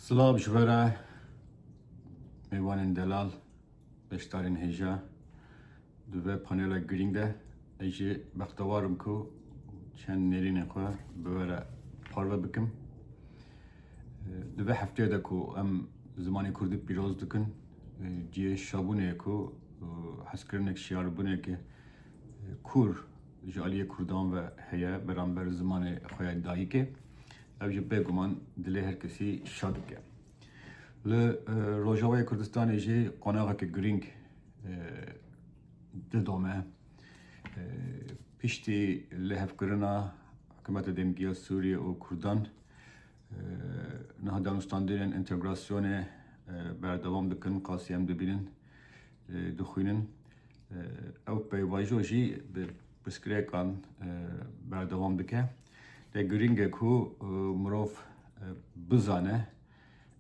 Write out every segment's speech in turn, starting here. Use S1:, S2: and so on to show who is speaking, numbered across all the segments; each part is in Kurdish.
S1: Silav ji vera mêvanên delal, beşdarên hêja di ve panela girîng de ez jê bextewar im ku çend nêrînên xwe bi we re parve bikim. Di vê hefteyê de ku em zimanê Kurdî pîroz dikin, cihê şabûnê ku hezkirinek şiyarbûneke kûr ji aliyê Kurdan ve heye beramber zimanê xwe ya dayikê. Ev jî bêguman dilê her kesî şa dike. Li Rojavayê Kurdistanê jî qonaxeke girîng didome piştî lihevkirina hikûmeta demgîya Sûriyê û Kurdan niha danûstandinên întegrasyonê berdewam dikin qasî em dibînin dixwînin ew peyvajo jî bi pirsgirêkan berdewam dike. Lê girîng e ku mirov bizane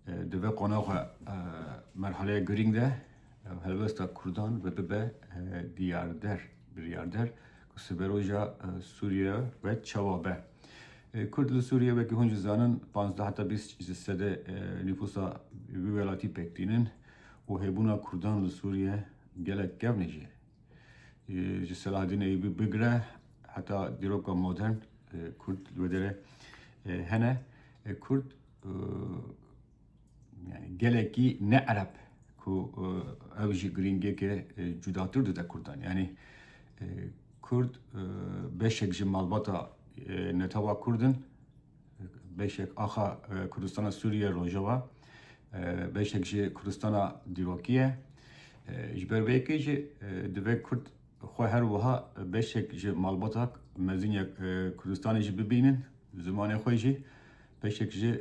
S1: di vê qonaxa merhaleya girîng de helwesta Kurdan ve bibe diyarder, biryarder ku siberoja Sûriye ve çawa be. Kurd li Sûriye wekî hûn jî zanin pazdeh heta bîst ji sedê nîfûsa wî welatî pêk tînin û hêbûna Kurdan li Sûriye gelek kevn e jî. ji Selahedîn Eyûbî bigire heta dîroka modern Kurd li wê derê hene. Kurd yani gelekî ne Ereb ku ew jî girîngiyeke cudatir dide Kurdan. Yani Kurd beşek ji malbata netewa Kurd in Beşek axa Kurdistana Sûriye Rojava, beşek jî Kurdistana dîrokî ye. Ji ber vê yekê jî divê Kurd xwe her wiha beşek ji malbata mezin ya Kurdistanê jî bibînin, zimanê xwe jî, beşek jî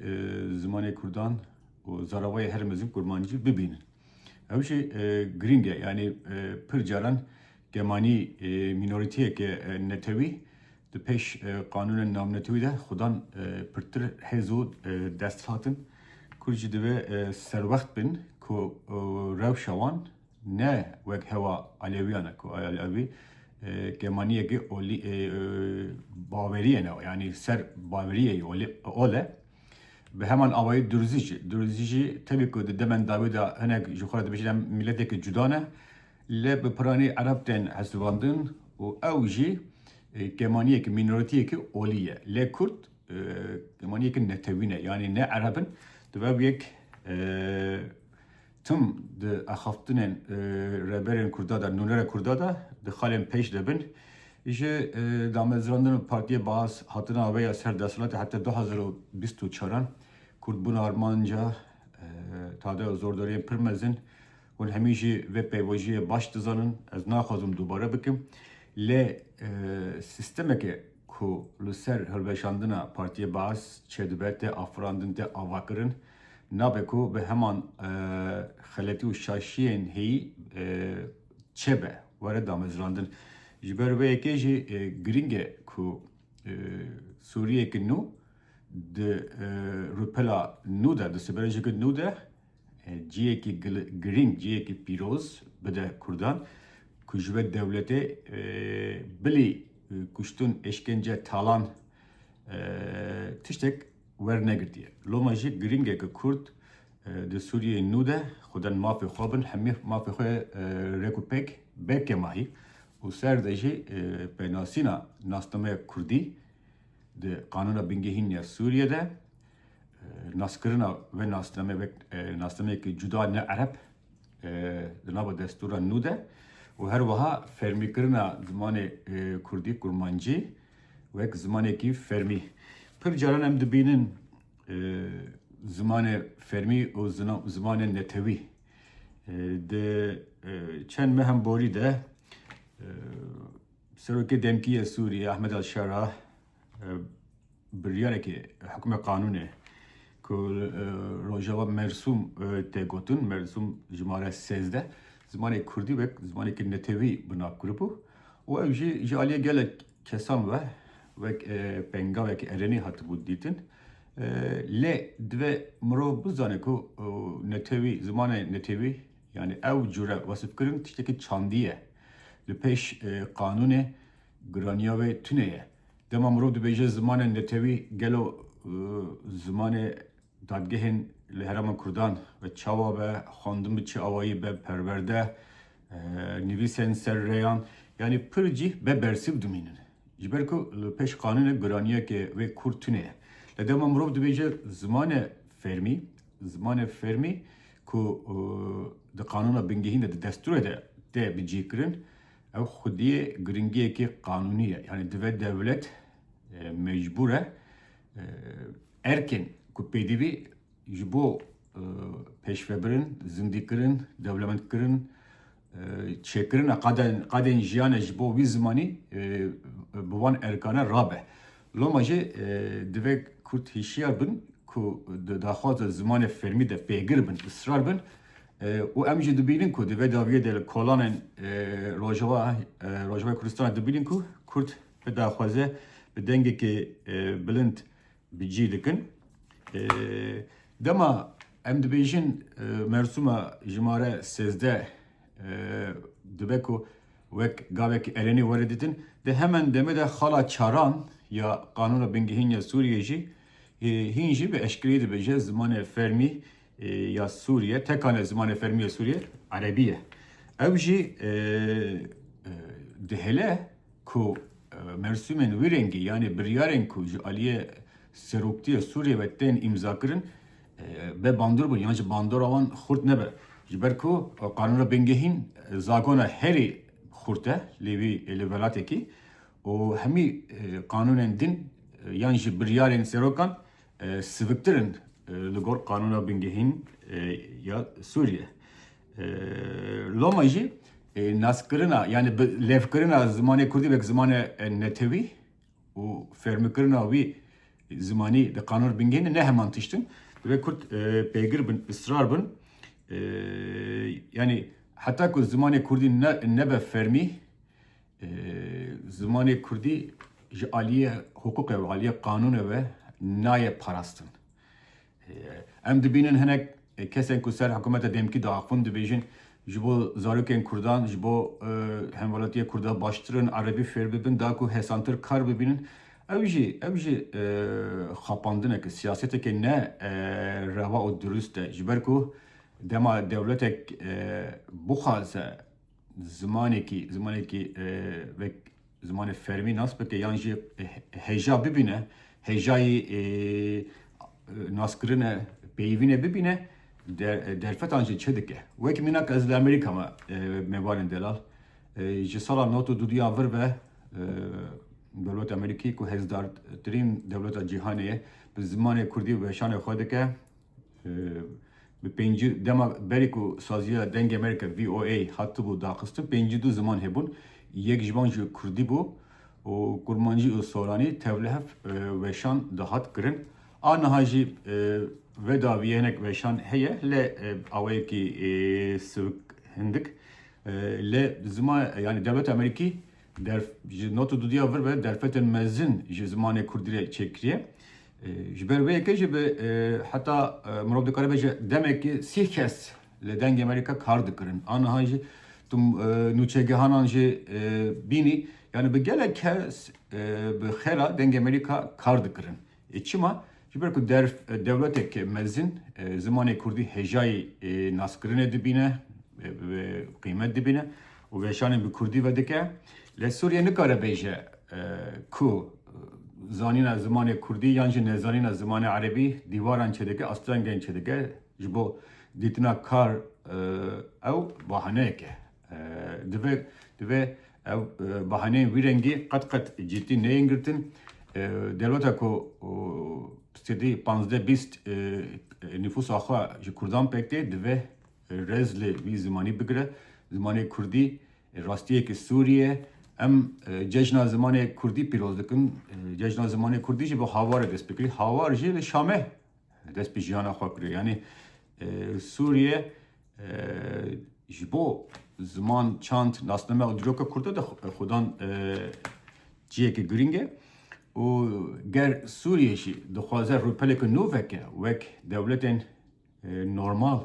S1: zimanê Kurdan û zaravayê herî mezin Kurmancî bibînin. Ew jî girîng e, yanî pir caran, Gemanî mînorîteyeke netewî di pêş qanûnên navnetewî de xwedan pirtir hêz û dest hat in. Kurd jî divê serwext bin ku rewşa wan ne wek hewa Elewîyan e ku Elewî gemanîyekî bawerîyê ne yanî ser bawerîyê ol e. Bi heman awayî Durzî jî. Durzî jî tevî ku di demên dawî de hinek ji xwe re dibêjin em mîletekî cuda ne, Lê bi piranî ereb tên hesibandin û ew jî kemaniyek mînoriteyekî olî ye. Lê kurd kemaniyek netewî ne yanî ne ereb in. Dibe bi yek tim di axaftinên rêberên kurda de, nûnerên kurda de di xalên pêş de bin. Ji damezrandina Partiyê Baas hatina wê ya ser desthilatê heta du hezar û bîst û çar an kurd bûn armanca Tadeo Zordariyên pir mezin Hûn hemî jî vê pêvojiyê baş dizanin, ez naxwazim dubare bikim. Lê sîstemeke ku li ser hilweşandina Partiyê Baas çêdibe, tê afirandin, tê avakirin. Nabe ku bi heman xeletî û şaşiyên heyî çêbe, were damezrandin. Ji ber vê yekê jî girîng e ku Sûriyeyeke nû di rûpela nû de, di sibirêjeke nû de, Cihekî girîng, cihekî pîroz bide Kurdan ku ji we dewletê bilî kuştin, êşkence, talan tiştek wernegirtiye. Loma jî girîng e ku Kurd di Sûriyeyê nû de xwedin mafê xwe bin, hemî mafê xwe rek û pêk be kemahî û ser de jî pênasîna nasnameya Kurdî di Qanûna Bingehîn ya Sûriyê de Naskirina vê nasnameyê wek nasnameyekî cuda ne ereb di nava destûra nû de û her wiha fermîkirina zimanê kurdî, kurmancî wek zimanekî fermî. Pir caran em dibînin zimanê fermî û zimanê netewî di çend mehan borî de Serokê Demkî yê Sûrîyê Ahmed Al-Şara Biryarekê hukmê qanûnê ku li rojava Mersûm tê gotin, Mersûm jimare sêzdeh, zimanê kurdî wek zimanekî netewî bi nav kiribû û ew jî ji aliyê gelek kesan ve wek pengavekî erenî hatibû dîtin. Lê divê mirov bizane ku netewî, zimanê netewî yanî ew cûre wesifkirin tiştekî çandî ye. Li pêş qanûnê Giraniya wê tune ye. Dema mirov dibêje zimanên netewî gelo zimanê dadgehên li herêma kurdan bi çawa be, xwendin bi çi awayî be, perwerde, nivîsên ser rêyan yanî pir cih be bersiv dimînin. Ji ber ku li pêş qanûnê giraniyeke wê kûr tune ye. Lê dema mirov dibêje zimane fêrmî, zimanê fêrmî ku di qanûna bingehîn de di destûrê de tê bicîkirin, Ew xwedî giringiyekî qanûnî ye. Yanî divê dewlet mecbûr e erkên ku pêdivî ji bo pêşvebirin, zindîkirin, dewlemendkirin, çêkirina qadên jiyane ji bo wî zimanî bi wan erkane rabe. Loma jî divê kurd hişyar bin ku di daxwaza zimanê fermî de pêgir bin, israr bin. Û em jî dibînin ku di vê dawiyê de li kolanên Rojava Rojavayê Kurdistanê dibînin ku Kurd bi daxwaze bi dengekî bilind bi cî dikin. Dema em dibêjin mersûma jimare sêzdeh dibe ku wek gavekî erênî were dîtin, di heman demê de xala çaran ya Qanûna Bingehîn ya Sûriyeyê jî hîn jî bi eşkereyî dibêje zimanê fermî ya Sûriye teka ne zimanê fermî ya Sûriyê Erebî ye. Ew jî dihêle ku mersûmên wî rengî yanî biryarên ku ji aliyê Seroktiya Sûriyê ve tên îmzakirin be bandor bin yan ji bandora wan xurt nebe. Ji ber ku qanûna bingehîn zagona herî xurt e lê wî li welatekî û hemî qanûnên din yan jî biryarên serokan siviktir in li gor qanûna bingehîn ya Sûriye. Loma jî naskirina yanî bi lêvkirina zimanê Kurdî wek zimane netewî û fermikirina wî zimanî di qanûna bingehîn de ne heman tişt in. Divê Kurd pêgir bin, israr bin yanî heta ku zimanê Kurdî nebe fermî Zimanê kurdî ji aliyê hiqûqê ve, aliyê qanûnê ve nayê parastin. Em dibînin hinek kesên ku ser hikûmeta demkî diaxivin dibêjin ji bo zarokên kurdan, ji bo hemwelatiyê kurda baştir in erebî fêr bibin, da ku hesantir kar bibînin. Ew jî ew jî xapandineke, siyaseteke ne rewa û dirust e. Ji ber ku dema dewletek bixwaze zimanekî zimanekî vek zimanê fermî nas bike yan jî hêja bibîne hêjayî naskirine peyivîne bibîne derfetan jî çi dike wekî mînak ez li Amerîka me mêvanên delal ji sala not û duduya vir ve dewleta Amerîkî ku hêzdartirîn dewleta cîhanê ye bi zimanê kurdî weşanê xwe dike Bi pêncî dema berê ku saziya Dengê Amerîka VOA hatibû daxistin pêncî du ziman hebûn. Yek ji wan jî kurdî bû û kurmancî û soranî tevlihev weşan dihat kirin. A niha jî ve davî hinek weşan heye li awayekî sivik hindik li ziman yanî dewleta Amerîkî Derf, ji nota dudiya vir ve derfetên mezin ji zimanê kurdî re çêkiriye. Ji ber vê yekê jî bi heta mirov dikaribe ji demekî sî kes li dengê me re kar dikirin. Aniha jî tu nûçegehanan jî bînî. Yani bi gelek kes bi xêra dengê me re kar dikirin. Çima? Ji ber ku der dewletek mezin zimanê kurdî hêjayî naskirinê dibîne, qîmet dibîne û veşanên bi kurdî vedike. Lê Sûriye nikare bêje ku zanîna zimanê kurdî yan jî nezanîna zimanê erebî dîwaran çêdike, astrengên çêdike. Ji bo dîtina kar ew bahaneyek e. Divê divê ev bahaneyên vî rengî qet qet cîddî neyên girtin. Dewleta ku sedî panzdeh bîst nîfûsa xwe ji Kurdan pêk tê divê rêz li vî zimanî bigire. Zimanê Kurdî rastiyeke sûrî ye. Em cejna zimanê Kurdî pîroz dikin. Cejna zimanê Kurdî jî bi hawarê dest pê kirî. Hawar jî li Şamê dest bi jiyana xwe kiriye. Yanî Sûriye Ji bo ziman, çand, nasname û dîroka Kurda de xwedan ciheke girîng e û ger Sûriye jî dixwaze rûpeleke nû veke wek dewletên normal,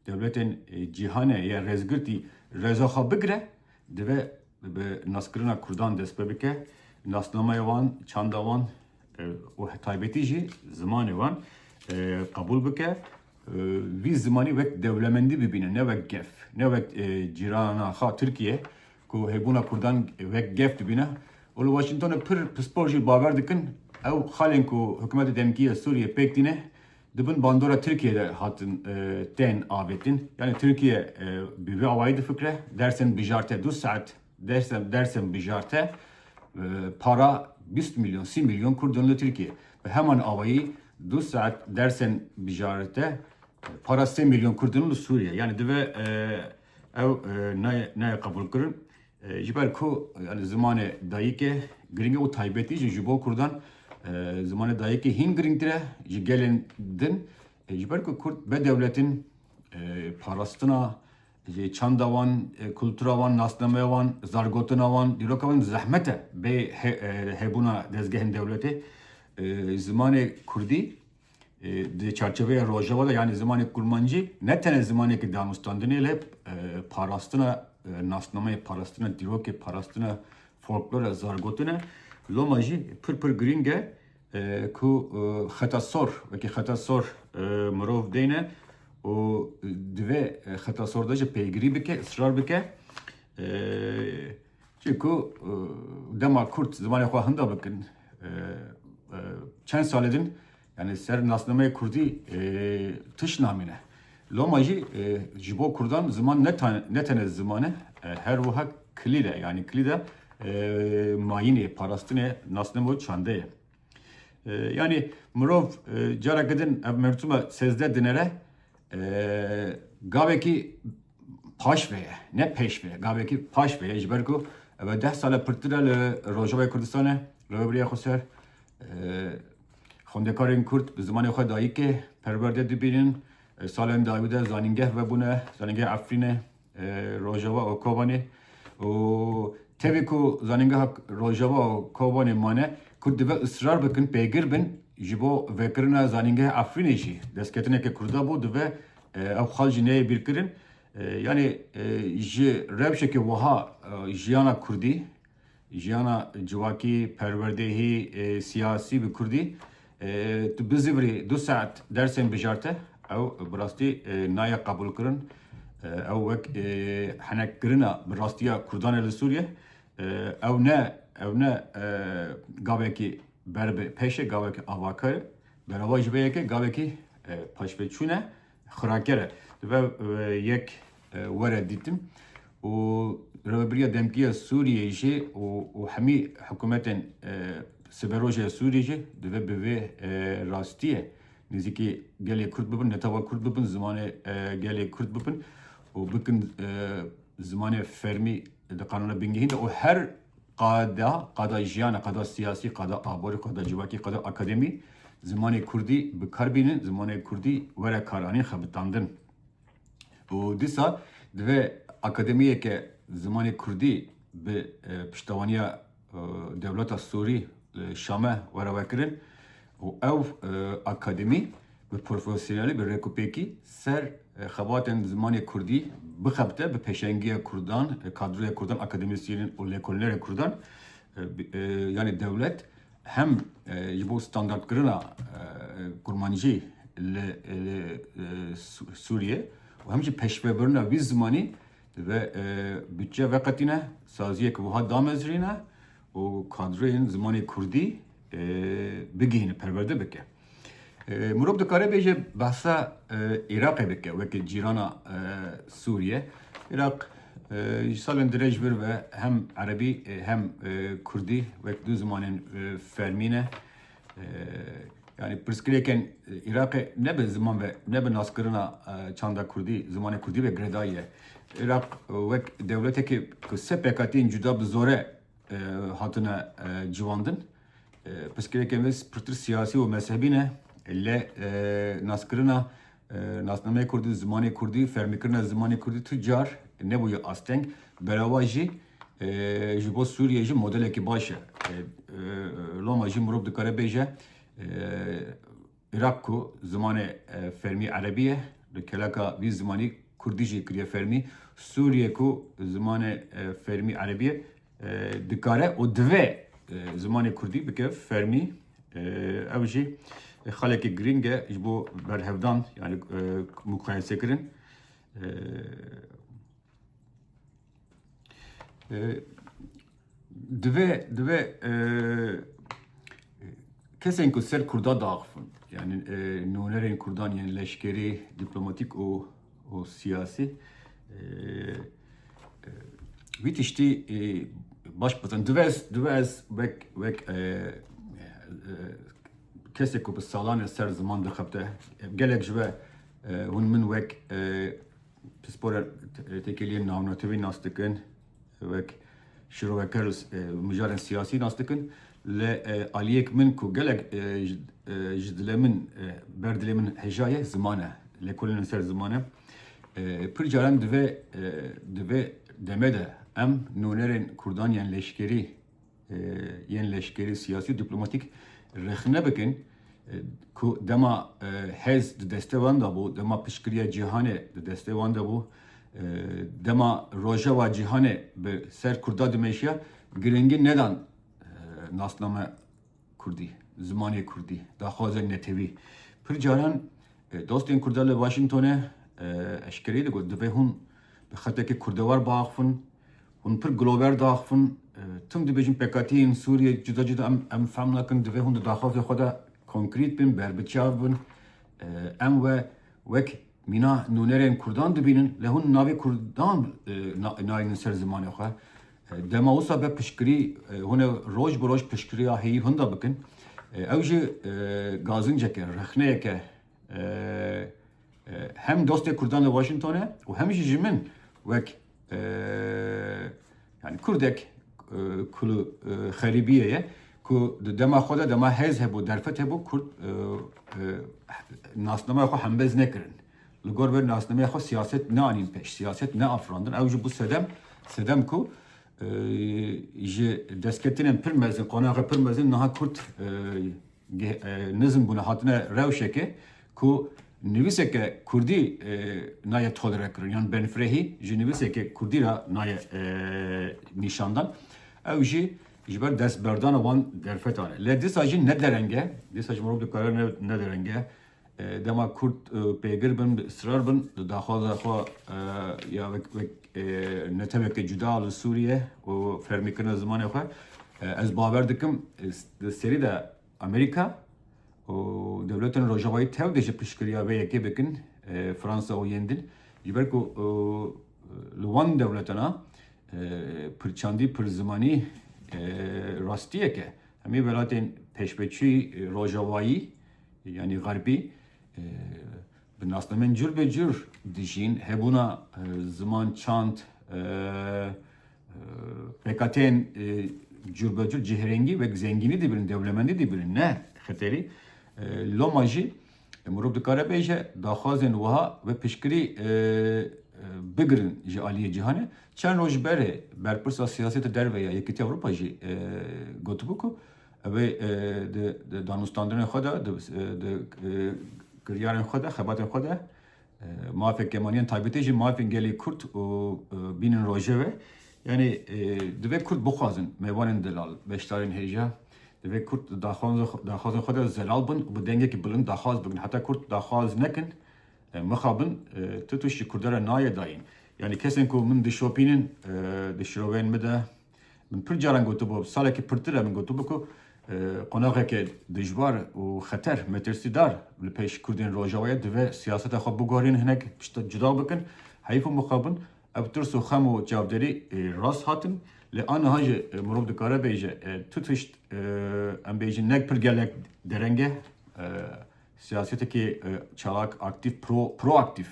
S1: dewletên cîhanê ya rêzgirtî rêza xwe bigire divê bi naskirina Kurdan dest pê bike, nasnameya wan, çanda wan, û taybetî jî zimanê wan qebûl bike, vî zimanî wek dewlemendî bibîne ne wek gef, ne wek cîrana xwe Tirkiye ku hêbûna Kurdan wek gef dibîne û li Washingtonê pir pispor jî bawer dikin ew xalên ku hikûmeta demkî ya Sûriyê pêk tîne di bin bandora Tirkiye de hatin tên avêtin. Yanî Tirkiye bi vî awayî difikre, dersên bijarte du saet Dersem dersem bijarte para bîst milyon sî milyon kurdon li Tirkiye. Bi heman awayî du saet dersên bijarte para sê milyon kurdon li Sûriye. Yani dive ew nayê qebûlkirin. Ji ber ku yani zimanê dayîkê girîng e û taybetî jî ji bo kurdan zimanê dayîkê hîn girîngtir e ji gelên din. Ji ber ku kurd be dewletin parastina Ji çanda wan, kultura wan, nasnameya wan, zargotina wan, dîroka wan zehmet e bê hebûna dezgehên dewletê zimanê kurdî di çarçoveya Rojava de yanî zimanê kurmancî ne tenê zimanekî danûstandinê lê parastina nasnameyê, parastina dîrokê, parastina folklore, zargotine loma jî pir pir girîng e. Ku xeta sor wekî xeta sor mirov dêne û di vê xeta sor de jî pêgirî bike, israr bike. Çîkû dema Kurd zimanê xwe hinda bikin çend salê din yanî ser nasnameyê Kurdî tiş namîne. Loma jî ji bo kurdan ziman ne tenê ziman e, her wiha kilîd e, yanî kilîd e mayînê, parastinê, nasname û çande ye. Yanî mirov careke din ev mertûma sêzdeh dinere gavekî paşve ye, ne pêşve ye, gavekî paşve ye ji ber ku ev deh sal e pirtir e li Rojavayê Kurdistanê, Reweberiya Xweser Xwendekarên Kurd bi zimanê xwe dayikê perwerde dibînin. Salên dayî de zanîngeh vebûne, zanîngeh Efrîne, Rojava û Kobanê. Û tevî ku zanîngeha Rojava û Kobanê mane, Kurd divê israr bikin, pêgir bin ji bo vekirina zanîngeh Efrînê jî. Destketineke Kurda bû, divê ew xal jî neyê bîrkirin. Yanî ji rewşeke wiha jiyana Kurdî Jiyana civakî, perwerdehî, siyasî bi kurdî tu bizîvirî du saet dersên bijarte ew bi rastî naye qebûlkirin. Ew wek henekgirina bi rastiya kurdan e li Sûriye. Ew ne ew ne gavekî ber bi pêş e, gavekî avakar e. Berava ji vê yekê gavekî paşvêçûn e. Xiraker e. Dibe yek were dîtin û Rêveberiya Demkî ya Sûriyeyê jî û hemî hikûmetên Siberojê ya Sûriyeyê jî divê bi vê rastiyê nêzîkî gelê Kurd bibin, netewek Kurd bibin, zimanê gelê Kurd bibin û bikin zimanê fermî di qanûna bingehîn de û her Qada, qada jiyana, qada siyasî, qada aborî, qada civakî, qada akademî zimanê kurdî bi kar bînin, zimanê kurdî were karanîn xebitandin. Û dîsa divê akademiyeke zimanê kurdî bi e, piştewaniya e, dewleta Sûrî li Şame were vekirin û ew e, akademî Bi profesyonelî, bi rêkûpêkî ser xebatên zimanê kurdî bixebite, bi pêşengiya kurdan, kadroya kurdan, akademîsyenên û lêkolînerên kurdan yanî dewlet hem ji bo standardkirina kurmancî li Sûriyê û hem jî peşvebirina wî zimanî ve budçe veqetîne, saziyek wiha damezrîne û kadreyên zimanê kurdî bigihîne, perwerde bike. Mirov dikare bêje behsa Iraqê bike weke cîrana Sûriye. Iraq ji salên dirêj vir ve hem erebî hem kurdî wek du zimanên fermî ne. Yani pirsgirêkên Îraqê ne bi ziman ve ne bi naskirina çanda Kurdî, zimanê Kurdî ve girêdayî ye. Îraq wek dewletekê ku sê pêkhatiyên cuda bi zore hatine civandin. Pirsgirêkên wê pirtir siyasî û mezhebî ne lê naskirina Nasnameya Kurdî û zimanê Kurdî, fermîkirina zimanê Kurdî tu car nebûye asteng, berava jî ji bo Sûriyê jî modelekî baş e. Loma jî mirov dikare bêje Iraq ku zimanê fermî Erebî ye, li keleka vî zimanî Kurdî jî kiriye fermî, Sûriyê ku zimanê fermî Erebî ye, dikare û divê zimanê kurdî bike fermî ew jî xalekî girîng e ji bo berhevdan yani mukayesêkirin divê divê kesên ku ser kurda daxifin yani nûnerên kurdan yên leşkerî dîplomatîk û û siyasî wî tiştî baş bizin. Divê ez divê ez wek wek kesek ku bi salan e ser ziman dixebite gelek ji we hûn min wek pispor têkiliyên navnetewî nas dikin. Wek şiroveke rûs mijarên siyasî nas dikin. Li aliyek min ku gelek ji dilê min, ber dilê min hejaye ziman e. Lêkolîna ser ziman e. Pir caran divê di vê demê de em nûnerên Kurdan yên leşkerî, yên leşkerî, siyasî û dîplomatîk rexne bikin ku dema hez di destê wan de bû, dema piştgiriya cîhanê di destê wan de bû, dema rojeva cîhanê bi ser Kurda dimeşiya girîngî nedan nasname Kurdî, zimanê Kurdî, daxwaza netewî. Pir caran dostên Kurda li Washingtonê eşkereyî digot divê hûn bi xetekî kurdewar biaxivin, Hûn pir glober diaxivin. Tim dibêjin pekatiyên Sûriyê cuda cuda em em fehm nakin. Divê hûn di daxavê xwe de konkrît bin, berbiçav bin. Em we wek mîna nûnerên kurdan dibînin. Lê hûn navê kurdan nayênin ser zimanê xwe. Dema wisa be piştgirî hûn ê roj bi roj piştgiriya heyî hûn de bikin. Ew jî gazincek e, rexneyek e. Hem dostê kurdan li Washington e û hem jî ji min wek Yani Kurdek ku li xerîbiyê ye ku di dema xwe de dema hêz hebû derfet hebû Kurd nasnameya xwe hembez nekirin. Li gor vê nasnameya xwe siyaset neanîn pêş, siyaset neafirandin. Ew jî bû sedem, sedem ku ji destketinên pir mezin, qonaxê pir mezin niha Kurd Nizm bûne hatine rewşeke ku nivîseke kurdî naye tolere kirin yan benfirehî ji nivîseke kurdî re naye nîşandan. Ew jî ji ber destberdana wan derfetan e. Lê dîsa jî ne dereng e, dîsa ji mirov dikare ne dereng e Dema Kurd pêgir bin, bi israr bin di daxwaza xwe ya wek neteweke cuda li Sûriye û fermîkirina zimanê xwe, ez bawer dikim di serî de Amerîka û dewletên Rojavayî tev dê ji piştgiriya vê yekê bikin, Fransa û yên din. Ji ber ku li wan dewletan a pirçandî, pirzimanî rastiyek e. Hemî welatên pêşveçûyî Rojavayî Yanî xerbî bi nasnameyên curbecur dijîn, hebûna ziman, çand, pêkhateyên curbecur cihêrengî wek zengînî dibînin, dewlemendî dibînin ne xeterî. Loma jî mirov dikare bêje daxwazên wiha bi piştgirî bigirin ji aliyê cîhanê. Çend roj berê berpirsa siyaseta derve ya Yekîtiya Ewropa jî gotibû ku, Ev ê di danûstandinên xwe de, di kiryarên xwe de, xebatên xwe de mafên kemaliyan taybetî jî mafên gelê Kurd û bînin rojevê. Yanî divê Kurd bixwazin mêvanên delal, beşdarên hêja divê Kurd di daxwazên xwe de zelal bin û bi dengekî bilind daxwaz bikin. Heta Kurd daxwaz nekin, mixabin ti tişt ji Kurdan re nayê dayîn. Yanî kesên ku min dişopînin di şiroveyên min de, Min pir caran gotibû, salekî pirtir e min gotibû ku qonaxeke dijwar û xeter, metirsîdar li pêş Kurdên Rojavayê divê siyaseta xwe biguherînin hinek pişta cuda bikin. Heyf û mixabin ev tirs û xem û çavderî rast hatin. Lê aniha jî mirov dikare bêje tu tişt em bêjin ne pir gelek dereng e siyasetekî çalak, aktîf, pro, proaktîf.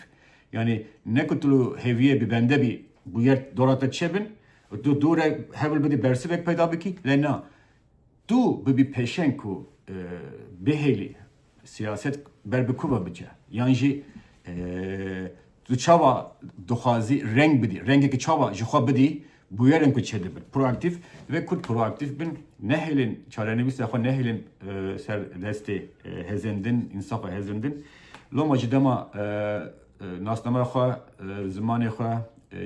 S1: Yanî ne ku tu hêviyê bibende bî bûyer dora te çêbin, Û tu dûre hewl bidî bersivek peyda bikî lê na. Tu bibî pêşeng ku bihêlî siyaset ber bi ku ve biçe yan jî tu çawa dixwazî reng bidî, rengekî çawa ji xwe bidî bûyerin ku çêdibin. Proaktîf, divê Kurd proaktîf bin, nehêlin çarenivîsa xwe nehêlin ser destê hêzên din, însafa hêzên din. Loma ji dema Nasname xwe, zimanê xwe,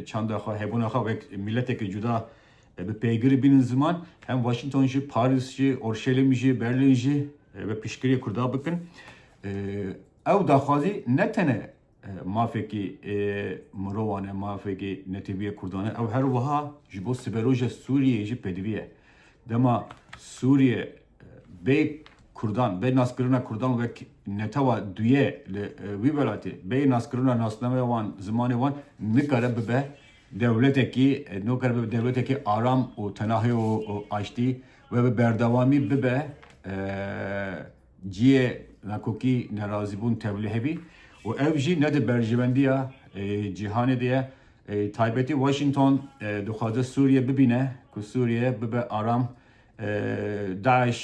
S1: çanda xwe, hebûna xwe wek mîletekî cuda bi pêgirî bînin ziman, hem Washington jî, Parîs jî, Orşelîm jî, Berlin jî bi piştgiriyê Kurda bikin. Ew daxwazî ne tene mafekî mirovan e, mafekî netewîyê Kurdan e, ew her wiha ji bo siberoja Sûriyeyê jî pêdivî ye. Dema Sûriye Bê Kurdan, bê naskirina Kurdan wek netewa duye li wî welatê, bê naskirina nasnameya wan, zimanê wan nikare bibe dewletekî, nikare bibe dewletekî aram û tenahî û aştî we bi berdewamî bibe ciyê nakokî, nerazîbûn, tevlihevî û ev jî ne di berjewendiya cîhanê de ye. Taybetî Washington dixwaze Sûriye bibîne ku Sûriye bibe aram, DAIŞ,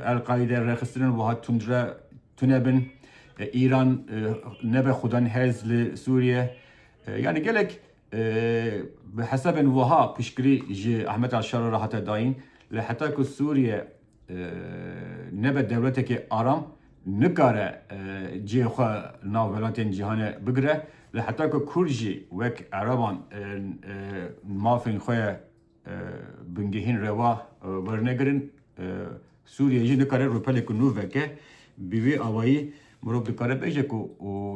S1: El-Qaîde rêxistinên wiha tund re tune bin. Îran nebe xwedane hêz li Sûriye. Yanî gelek bi hesabên wiha piştgirî ji Ahmet al-Şara re hate dayîn. Lê heta ku Sûriye nebe dewletekê aram, nikare cihê xwe li nav welatên cîhanê bigire. Lê heta ku kurd jî wek eraban mafên xwe Bingehîn reva wernegirin. Sûriye jî nikare rûpeleke nû veke. Bi vî awayî mirov dikare bêje ku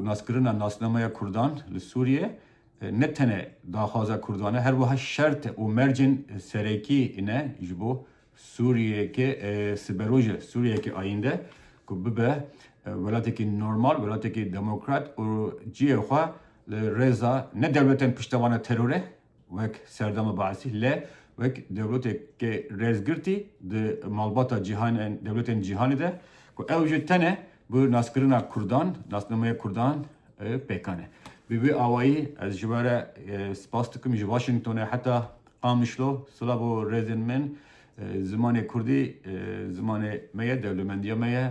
S1: naskirina nasnameya Kurdan li Sûriye ne tene daxwaza Kurdan e, her wiha şert e û mercên serekî ne ji bo Sûriyeyeke siberoj e, Sûriyeyeke ayînde ku bibe welatekî normal, welatekî demokrat û cihê xwe li rêza ne dewletan piştevana terore wek serdema Baesî le wek dewleteke rêzgirtî di malbata cîhanên dewletên cîhanê de ku ew jî tene bi naskirina kurdan, nasnameya kurdan pêkan e. Bi vî awayî ez ji we re spas dikim ji Washingtonê heta Qamişlo sila bo rêzên min zimanê kurdî zimanê me ye dewlemendiya me ye.